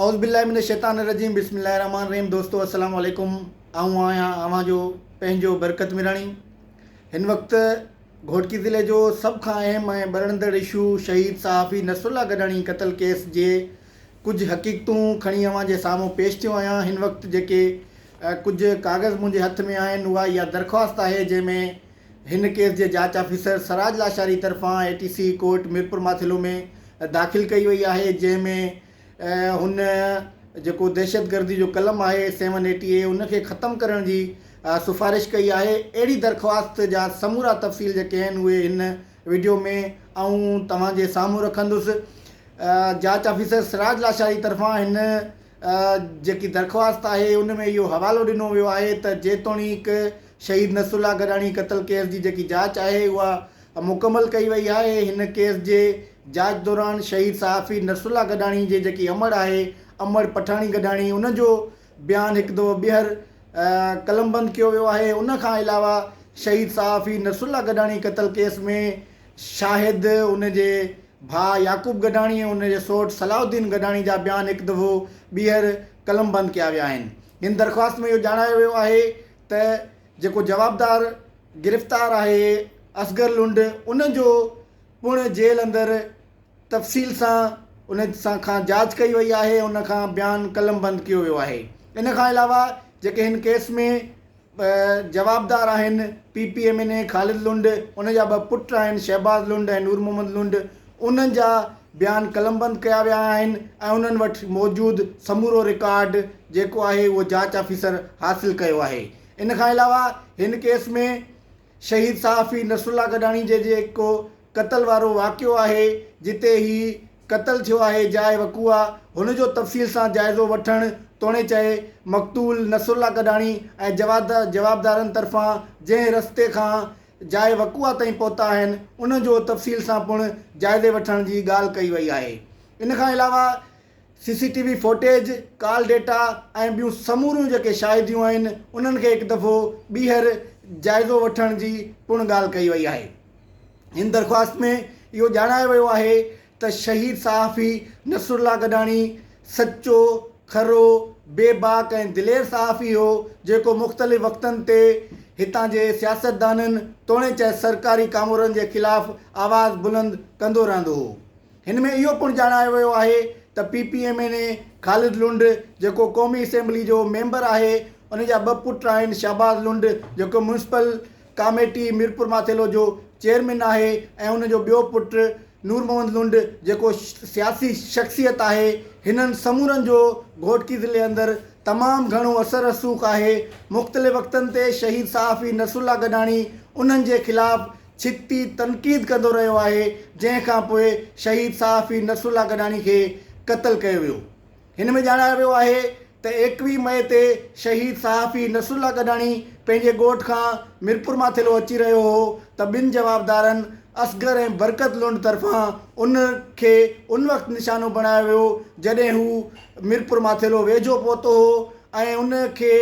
اعوذ باللہ من الشيطان الرجيم بسم الله الرحمٰن الرحيم دوستو السلام عليڪم آئون آهيان اوهان جو پنهنجو برڪت ميراڻي هن وقت گهوٽڪي ضلعي جو سڀ کان اهم ۽ ٻرندڙ اشو شهيد صحافي نصرالله گڏاڻي قتل ڪيس جي ڪجهه حقيقتون کڻي اوهان جي سامهون پيش ٿيو آهيان هن وقت جيڪي ڪجهه ڪاغذ منهنجي هٿ ۾ آهن اها اها درخواست آهي جنهن ۾ هن ڪيس جي جاچ آفيسر سراج لاشاري طرفان اي ٽي سي ڪورٽ ميرپورماٿيلو ۾ داخل ڪئي وئي آهي جنهن ۾ هن جيڪو دهشتگردي جو قلم آهي سيون ايٽي اي ان کي ختم ڪرڻ جي سفارش ڪئي آهي اهڙي درخواست جا سمورا تفصيل جيڪي آهن اهي هن وڊيو ۾ آئون توهان جي سامهون رکندس جاچ آفيسر سراج لاشاري طرفان هن جيڪي درخواست آهي ان ۾ اهو حوالو ڏنو ويو آهي ته جيتوڻيڪ شهيد نصر الله گڏاڻي قتل ڪيس جي جيڪي جاچ آهي اها مڪمل ڪئي وئي آهي، هن ڪيس جي جاچ دوران شهيد صحافي نصر الله گڏاڻي جي جيڪي امڙ آهي امڙ پٺاڻي گڏاڻي ان جو بيان هڪ دفعو ٻيهر قلمبند ڪيو ويو آهي ان کان علاوه شهيد صحافي نصر الله گڏاڻي قتل ڪيس ۾ شاهد ان جي ڀاء يعقوب گڏاڻي ۽ ان جي سوٽ صلاح الدين گڏاڻي جا بيان هڪ دفعو ٻيهر قلمبند ڪيا ويا آهن هن درخواست ۾ اهو ڄاڻايو ويو آهي ته جيڪو جوابدار گرفتار آهي اصغر لنڊ ان جو پڻ جيل اندر تفصيل سان ان سان کان جاچ ڪئي وئي آهي ان کان بيان قلم بند ڪيو ويو آهي ان کان علاوه جيڪي هن ڪيس ۾ جوابدار آهن P P M N A Khalid Lund ان جا ٻه پٽ آهن شهباز لنڊ ۽ نور محمد لنڊ انهن جا بيان قلمبند ڪيا ويا آهن ۽ انهن وٽ موجود سمورو رڪارڊ جيڪو آهي اهو جاچ آفيسر حاصل ڪيو آهي. ان کان علاوه هن ڪيس ۾ شهيد صحافي نصرالله گڏاڻي جي جيڪو قتل وارو واقعو آهي جتي هي قتل ٿيو آهي جاء وقوع هن جو تفصيل سان جائزو وٺڻ توڻي چئي مقتول نصرالله گڏاڻي ۽ جوابدارن طرفان جنهن رستي کان جاء وقوع تائين پهتا آهن ان جو تفصيل سان پڻ جائزي وٺڻ جي ڳالهه ڪئي وئي آهي ان کان علاوه C C T V footage call data ۽ ٻيون سموريون جيڪي شاهديون آهن انهن کي هڪ دفعو ٻيهر جائزو وٺڻ جي پڻ ڳالهه ڪئي وئي آهي ان درخواست ۾ اهو ڄاڻايو ويو آهي ته شهيد صحافي نصرالله گڏاڻي سچو، کرو، بي باڪ ۽ دلير صحافي هو، جيڪو مختلف وقتن تي هتان جي سياستدانن توڻي چئه سرڪاري ڪامورن جي خلاف آواز بلند ڪندو رهندو هو. هن ۾ اهو پڻ ڄاڻايو ويو آهي ته P P M N A Khalid Lund جيڪو قومي اسيمبلي جو ميمبر آهي ان جا ٻه پٽ آهن شهباز لنڊ جيڪو ميونسپل ڪاميٽي ميرپورماٿيلو جو چيئرمين آهي ۽ ان جو ٻيو پٽ نورمحمد لنڊ جيڪو سياسي شخصيت آهي. هنن سمورن جو گهوٽڪي ضلعي اندر تمام گهڻو اثر رسوخ آهي. مختلف وقتن تي شهيد صحافي نصرالله گڏاڻي انهن جي خلاف ڇتي تنقيد ڪندو رهيو آهي جنهن کانپوء شهيد صحافي نصرالله گڏاڻي کي قتل ڪيو ويو. هن ۾ ڄاڻايو ويو آهي ته ايڪويهه مئي تي شهيد صحافي نصرالله گڏاڻي پنهنجي ڳوٺ کان ميرپور مان ٿيلهو اچي رهيو هو ته ٻن جوابدارن اصغر ۽ برڪت لنڊ طرفان ان کي ان وقت نشانو بڻايو ويو جڏهن هو ميرپور مان ٿيلهو ويجهو پهتو هو ۽ ان کي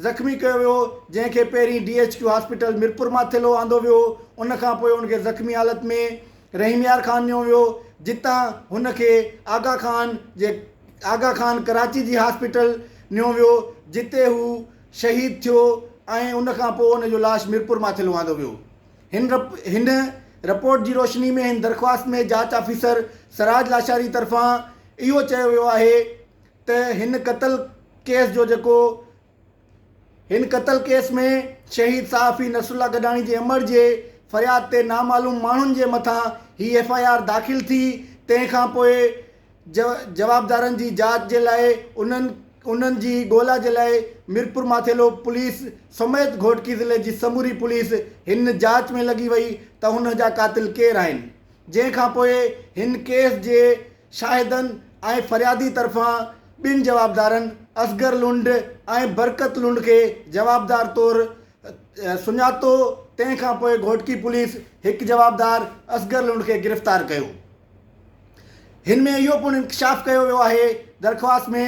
زخمي ڪيو ويو جنهن کي پهرين D H Q hospital Mirpur مان ٿيلهو آندو ويو ان کانپوء ان کي زخمي حالت ۾ رحيم يار خان نيو ويو جتان هن کي آغا خان جي آغا خان ڪراچي جي هاسپيٽل نيو ويو جتي هو شهيد ٿيو ۽ ان کان پوء هن جو لاش ميرپور ماٿيل واندو ويو هن رپ هن رپورٽ جي روشني ۾ هن درخواست ۾ جاچ آفيسر سراج لاشاري طرفان اهو چيو ويو آهي ته هن قتل ڪيس جو جيڪو هن قتل ڪيس ۾ شهيد صحافي نصرالله گڏاڻي جي امڙ جي فرياد تي نامعلوم ماڻهن جي مٿان هي ايف آء آر داخل ٿي تنهن کان پوء جوابدارن جي جاچ جي لاء انهن انهن جي ڳولا جي لاء ميرپورماٿيلو پوليس سميت گهوٽڪي ضلعي جي سموري پوليس هن جاچ ۾ لڳي وئي ته هن جا قاتل ڪير آهن جنهن کان پوء هن ڪيس جي شاهدن ۽ فريادي طرفان ٻن جوابدارن اصغر لنڊ ۽ برڪت لنڊ کي جوابدار طور سڃاتو تنهن کانپوء گهوٽڪي پوليس هڪ جوابدار اصغر لنڊ کي گرفتار ڪيو هن ۾ اهو پڻ انڪشاف ڪيو ويو آهي درخواست ۾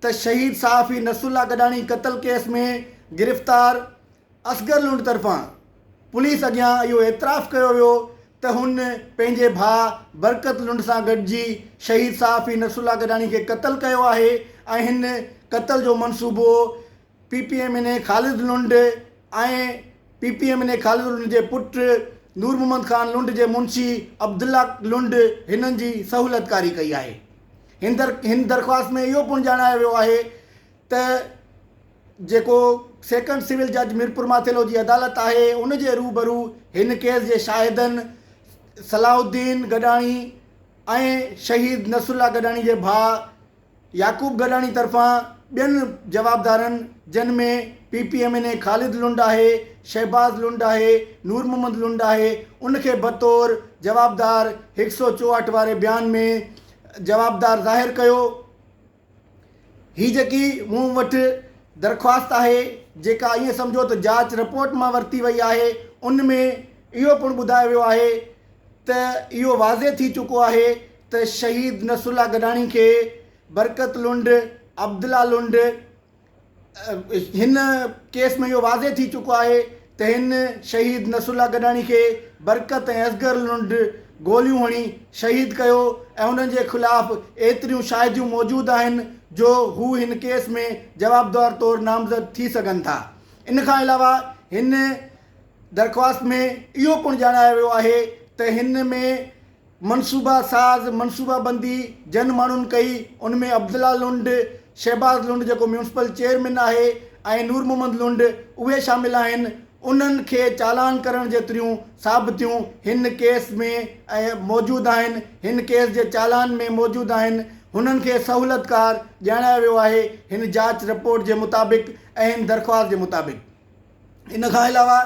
ته شهيد صحافي نصرالله گڏاڻي قتل ڪيس ۾ گرفتار اصغر لنڊ طرفان پوليس اڳيان اهو اعتراف ڪيو ويو ته هن پنهنجي ڀاء برڪت لنڊ سان گڏجي شهيد صحافي نصرالله گڏاڻي کي قتل ڪيو آهي ۽ هن قتل جو منصوبو P P M N A Khalid Lund ۽ P P M N A Khalid Lund جي پٽ نور محمد خان لنڊ جي منشي عبدالله لنڊ هنن جي سهولتڪاري ڪئي آهي هن درخواست ۾ اهو پڻ ڄاڻايو ويو آهي ته جيڪو سيڪنڊ سول جج ميرپورماٿيلو جي عدالت آهي ان جي روبرو هن ڪيس جي شاهدن صلاح الدين گڏاڻي ۽ شهيد نصرالله گڏاڻي جي ڀاء يعقوب گڏاڻي طرفان ٻين جوابدارن جن ۾ P P M N A Khalid Lund آهي شهباز لنڊ آهي نور محمد لنڊ آهي ان کي بطور جوابدار هڪ سؤ چوهٺ واري بيان ۾ جوابدار ظاهر ڪيو هي جيڪي مون وٽ درخواست آهي جيڪا ائين سمجهو ته جاچ رپورٽ مان ورتي وئي آهي ان ۾ اهو پڻ ٻڌايو ويو آهي ته اهو واضح ٿي چڪو آهي ته شهيد نصرالله گڏاڻي کي برڪت لنڊ، عبدالله لنڊ، هن ڪيس ۾ اهو واضح ٿي چڪو آهي ته هن شهيد نصرالله گڏاڻي کي برڪت ۽ اصغر لنڊ گوليون هڻي شهيد ڪيو ۽ انهن جي خلاف ايتريون شاهديون موجود آهن جو هو هن ڪيس ۾ جوابدار طور نامزد ٿي سگهن ٿا ان کان علاوه هن درخواست ۾ اهو پڻ ڄاڻايو ويو آهي ته هن ۾ منصوبه ساز منصوبه بندي جن ماڻهن ڪئي ان ۾ عبدالله لنڊ، شهباز لنڊ جيڪو ميونسپل چيئرمين آهي ۽ نور محمد لنڊ اهي شامل آهن انهن کي چالان ڪرڻ جيتريون ثابتيون هن ڪيس ۾ موجود آهن هن ڪيس جي چالان ۾ موجود آهن هنن کي سهولتڪار ڄاڻايو ويو آهي هن جاچ رپورٽ جي مطابق ۽ هن درخواست جي مطابق ان کان علاوه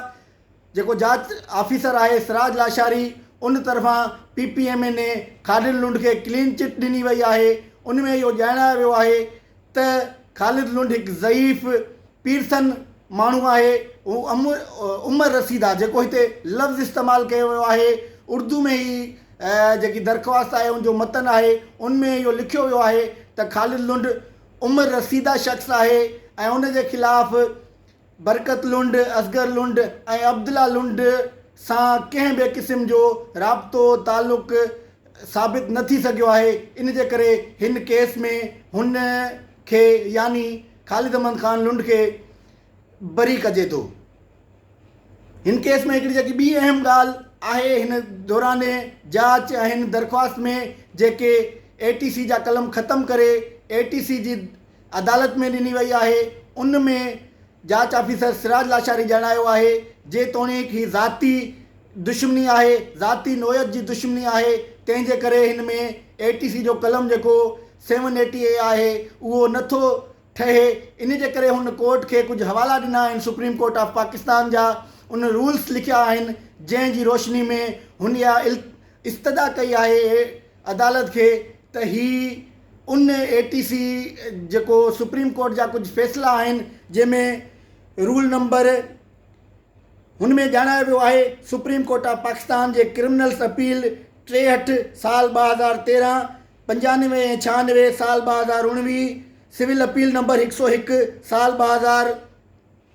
جيڪو جاچ آفيسر آهي سراج لاشاري ان طرفان P P M N A Khalid Lund کي ڪلين چٽ ڏني وئي آهي ان ۾ اهو ڄاڻايو ويو آهي ته خالد لنڊ هڪ ضعيف پيرسن ماڻهو آهي هو عمر رسيد آهي جيڪو هتي لفظ استعمال ڪيو ويو آهي اردو ۾ هي جيڪي درخواست آهي ان جو متن آهي ان ۾ اهو لکيو ويو آهي ته خالد لنڊ عمر رسيده شخص آهي ۽ ان جي خلاف برڪت لنڊ، اصغر لنڊ ۽ عبدالله لنڊ سان ڪنهن به قسم جو رابطو تعلق ثابت نه ٿي سگهيو آهي، ان جي ڪري هن ڪيس ۾ هن کي يعني خالد احمد خان لنڊ کي بري ڪجي ٿو. هن ڪيس ۾ هڪڙي جيڪي ٻي اهم ڳالهه آهي هن دوران جاچ ۽ هن درخواست ۾ جيڪي اي ٽي سي جا قلم ختم ڪري اي ٽي سي جي عدالت ۾ ڏني وئي آهي ان ۾ جاچ آفيسر سراج لاشاري ڄاڻايو آهي جيتوڻيڪ هي ذاتي دشمني آهي ذاتي نوعيت جي دشمني آهي تنهن جي ڪري هن ۾ اي ٽي سي جو قلم جيڪو سيون ايٽي اي آهي اهو نه ٿو ٺهي ان جي ڪري هن ڪورٽ کي ڪجهه حوالا ڏنا آهن سپريم ڪورٽ آف پاڪستان جا ان رولز لکيا آهن جنهن جي روشني ۾ هن اها استدعا ڪئي آهي عدالت کي ته هي ان اي ٽي سي جيڪو سپريم ڪورٽ جا ڪجهه فيصلا آهن جنهن ۾ رول نمبر هن ۾ ڄاڻايو ويو آهي سپريم ڪورٽ آف پاڪستان جي ڪرمنلس اپيل ٽيهٺ سال ٻه هزار تيرهن پنجانوي ۽ ڇهانوي سال ٻه هزار اوڻويهه سول اپيل نمبر هڪ سو هڪ سال ٻه هزار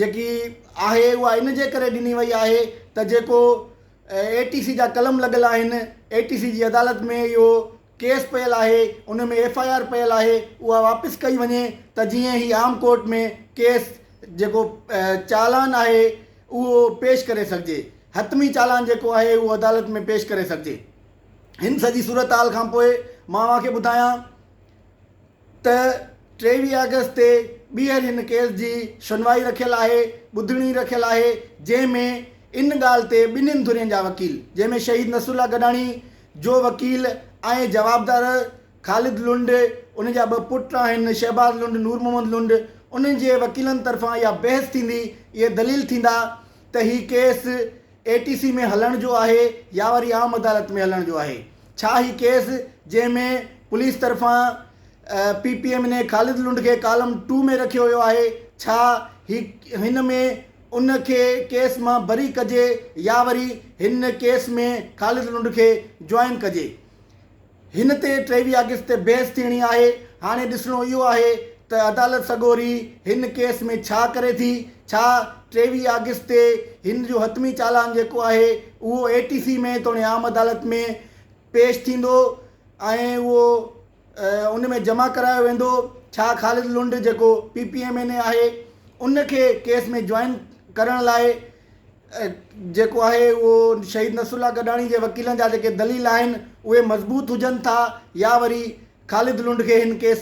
جيڪي آهي اها ان جي ڪري ڏني وئي آهي ته جيڪو اي ٽي سي جا قلم لڳل آهن اي ٽي سي جي عدالت ۾ اهو ڪيس پيل آهي ان ۾ ايف آء آر پيل آهي اها واپس ڪئي وڃي ته جيئن هي عام ڪورٽ ۾ ڪيس جيڪو چالان آهي اهو پيش ڪري سگهجي حتمي چالان جيڪو آهي اهو عدالت ۾ پيش ڪري سگهجي هن سڄي صورتحال کانپوء مان اوهان کي ٻڌايان ته ٽيويهه آگسٽ تي ٻيهر هن ڪيس جي شنوائي رکيل آهي، ٻڌڻي رکيل آهي، جنهن ۾ ان ڳالهه تي ٻنهين ڌرين جا وڪيل جنهن ۾ شهيد نصرالله گڏاڻي جو وڪيل ۽ جوابدار خالد لنڊ، ان جا ٻه پٽ آهن شهباز لنڊ، نور محمد لنڊ، انهن جي وڪيلن طرفان اها بحث ٿيندي، اهي دليل ٿيندا ته هي ڪيس اي ٽي سي ۾ هلڻ جو آهي يا وري عام عدالت ۾ هلڻ جو آهي ڇا هي ڪيس جنهن ۾ پوليس طرفان P P M N A Khalid Lund کي ڪالم ٽو ۾ رکيو ويو آهي ڇا هي هن ۾ ان کي ڪيس مان بري ڪجي يا وري هن ڪيس ۾ خالد لنڊ کي جوائن ڪجي هن تي ٽيويهه آگسٽ تي بحث ٿيڻي آهي، هاڻي ڏسڻو اهو آهي ته عدالت سڳوري هن ڪيس ۾ ڇا ڪري ٿي، ڇا ٽيويهه آگسٽ تي هن جو حتمي چالان جيڪو آهي اهو اي ٽي سي ۾ توڻي عام عدالت ۾ پيش ٿيندو ۽ اهو ان ۾ جمع ڪرايو ويندو، ڇا خالد لنڊ جيڪو P P M N A آهي ان کي ڪيس ۾ جوائن ڪرڻ لاء جيڪو آهي اهو شهيد نصر الله گڏاڻي جي وڪيلن جا جيڪي دليل آهن اهي مضبوط هجن ٿا يا وري خالد لنڊ کي هن ڪيس